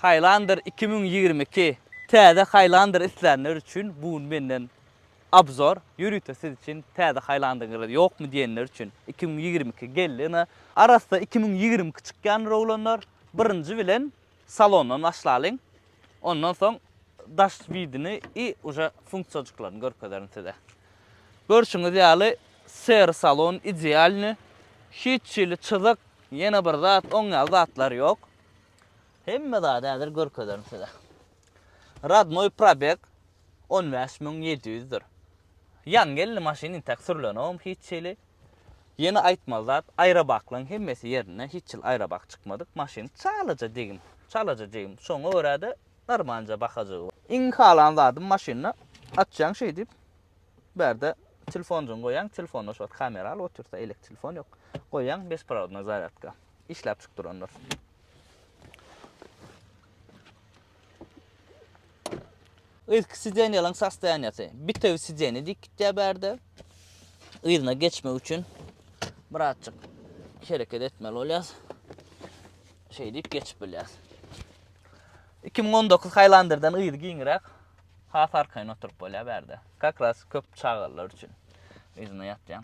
Highlander iki müň ýigrimi iki Täze Highlander islänler üçin bu gün menden obzor, ýörite siz üçin täze Highlander-yňyz ýokmy diýenler üçin iki müň ýigrimi iki geldi ine. Arassa iki müň ýigrimi iki çykýandyr oglanlar, birinji bilen salondan başlalyň, ondan soň daş widini i uje funksiýajyklaryny görkezerin size. Görşüňiz ýaly sery salon idealny, hiç hili çyzyk, ýene bir zat, oň ýaly zatlar ýok. Hemme zady häzir görkezerin size. Radnoy probeg 15700 dir. Ýaňy geldi maşyn intäk sürlenogam hiç hili. Ýene aýtmaly zat, aýrabaklaň hemmesi ýerinde, hiç hili aýrabak çykmadyk. Maşyn çalaja degim, çalaja degim. Şoňa görä-de armanca bahajygy bar. Iň halan zadym maşynda açýaň şeý diýip, bärde telefonjygyňy goýaň, telefonda şu wagt kamera alyp otyrsa, elek telefon ýok. Goýaň besprovodnoý zarýadka. işläp çykdyrandyr. Yzky sidenýalaryň sostoýaniýasy bitewi sideniýa diýip gitýär bärde. Yzyna geçmek üçin birazjyk hereket etmeli bolýas. Şeý diýip geçip bilýäs. 2019 Highlander-den yzy giňräk, has arkaýyn oturyp bolýar bärde. Kakras köp çagalar üçin yzyna ýatýan.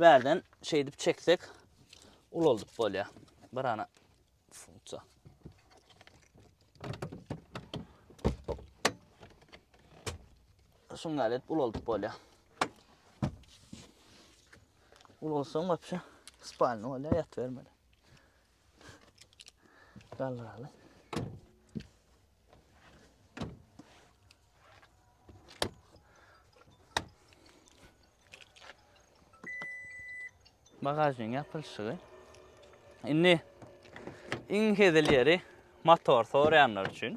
Bärden şeýdip çeksek ulaldyp bolýar. Bir ana funksiýa. Şuňa alet ulaldyp bolýar. Ulalsaň wapşe spalny bolýar, ýat bermeli. Galdyraly. Bagajyň ýapylşygy. Indi iň hezil ýeri motor soraýanlar üçin.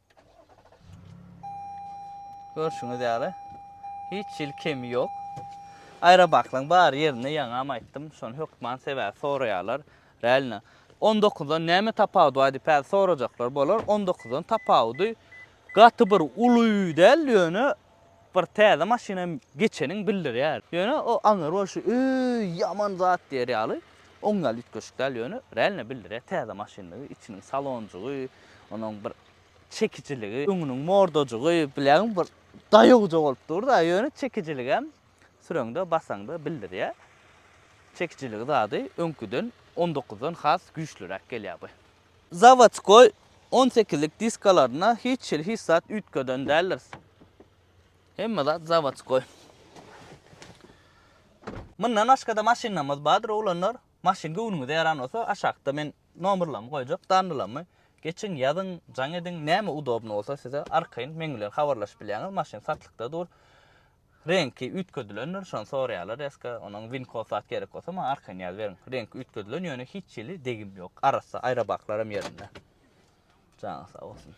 Görşüňiz ýaly, hiç hili kemi ýok. Aýrabaklygyň bar ýerinde ýaňam aýtdym, şony hökman sebäbi soraýarlar. Realno, on dokuzdan näme tapawudy bar diýip häzir sorajaklar bolar. On dokuzdan tapawudy gaty bir uly däl, ýöne bir täze maşyna geçeniňi bildirýär. Ýöne o aňyr bolşy, öý, ýaman zat diýer ýaly, oň ýaly üýtgeşik däl, ýöne realno bildirýär täze maşyndygy, içiniň salonjygy, onuň bir çekijiligi, öňüniň mordajygy, bilegiň bir daýawja bolup dur-da, ýöne çekijiligem süreňde, basaňda bildirýär. Çekijiligi zady öňküden on dokuzdan has güýçliräk gelýär bu. Zawodskoý on sekizlik diskalaryna hiç hili hiç zat üýtgeden däldiris. Hemme zat zawodskoý. Mundan başga-da maşynlarymyz bardyr, oglanlar. Maşyn göwnüňize ýaran bolsa, aşakda men nomerlerimi goýjak, dandylarmy. Geçiň, ýazyň, jaň ediň, näme udobny bolsa size arkaýyn meň bilen habarlaşyp bilýäňiz, maşyn satlykda dur. Reňki üýtgedilendir, şony soraýarlar reska, onuň winkos zat gerek bolsa maňa arkaýyn ýaz beriň. Reňki üýtgedilen ýöne hiç hili degim ýok. Arassa, aýrabaklaram ýerinde. Janyň sag bolsun.